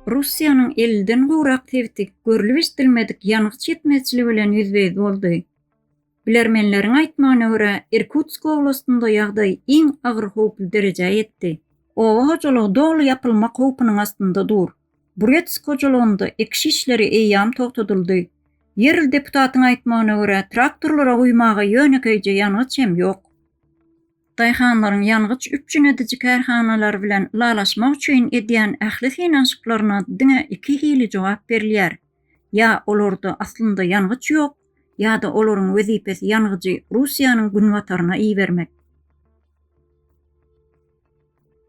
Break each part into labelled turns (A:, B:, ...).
A: Russiýanyň elden gowrak sebiti görlüp eşidilmedik ýangyç ýetmezçiligi bilen ýüzbe-ýüz boldy. Bilermenleriň aýtmagyna görä, Irkutsk oblastynda ýagdaý iň agyr howply derejä ýetdi. Oba hojalygy doly ýapylmak howpunyň astynda dur. Buretsk hojalygynda ekiş işleri eýýäm togtadyldy. Ýerli deputatyň aýtmagyna görä, traktorlara guýmaga ýönekeýje ýangyç hem ýok. Daýhanlaryň ýangyç üpjün ediji kärhanalary bilen ylalaşmak üçin edýän ähli synanyşyklaryna diňe iki hili jogap berilýär, ýa olarda aslynda ýangyç ýok, ýa-da olaryň wezipesi ýangyjy Russiýanyň günbataryna ibermek.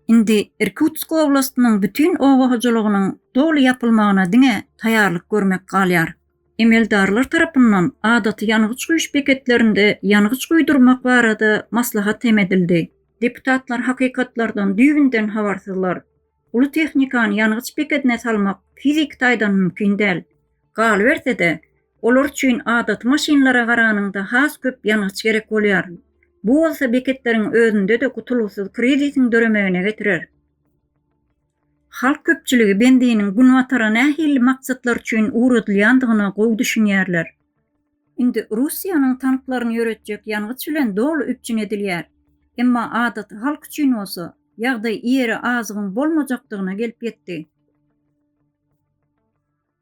A: Indi Irkutsk oblastynyň bütin oba hojalygynyň doly ýapylmagyna diňe taýýarlyk görmek galýar. Emeldarlar tarapyndan adaty ýangyç guýuş beketlerinde ýangyç guýdurmak barada maslahat hem edildi. Deputatlar hakykatlardan düýbünden habarsyzlar. Uly tehnikany ýangyç bekedine salmak fiziki taýdan mümkin däl. Galyberse-de, olar üçin adaty maşynlara garanyňda has köp ýangyç gerek bolýar. Bu bolsa beketleriň özünde-de gutulgysyz krizisiň döremegine getirer. Halk köpçüligi bendiniň Günbatara nähili maksatlar üçin ugradylýandygyna gowy düşünýärler. Indi Russiýanyň tanklaryny ýöretjek ýangyç bilen doly üpjün edilýär. Emma adaty halk üçin bolsa, ýagdaý ýere azygyň bolmajakdygyna gelip ýetdi.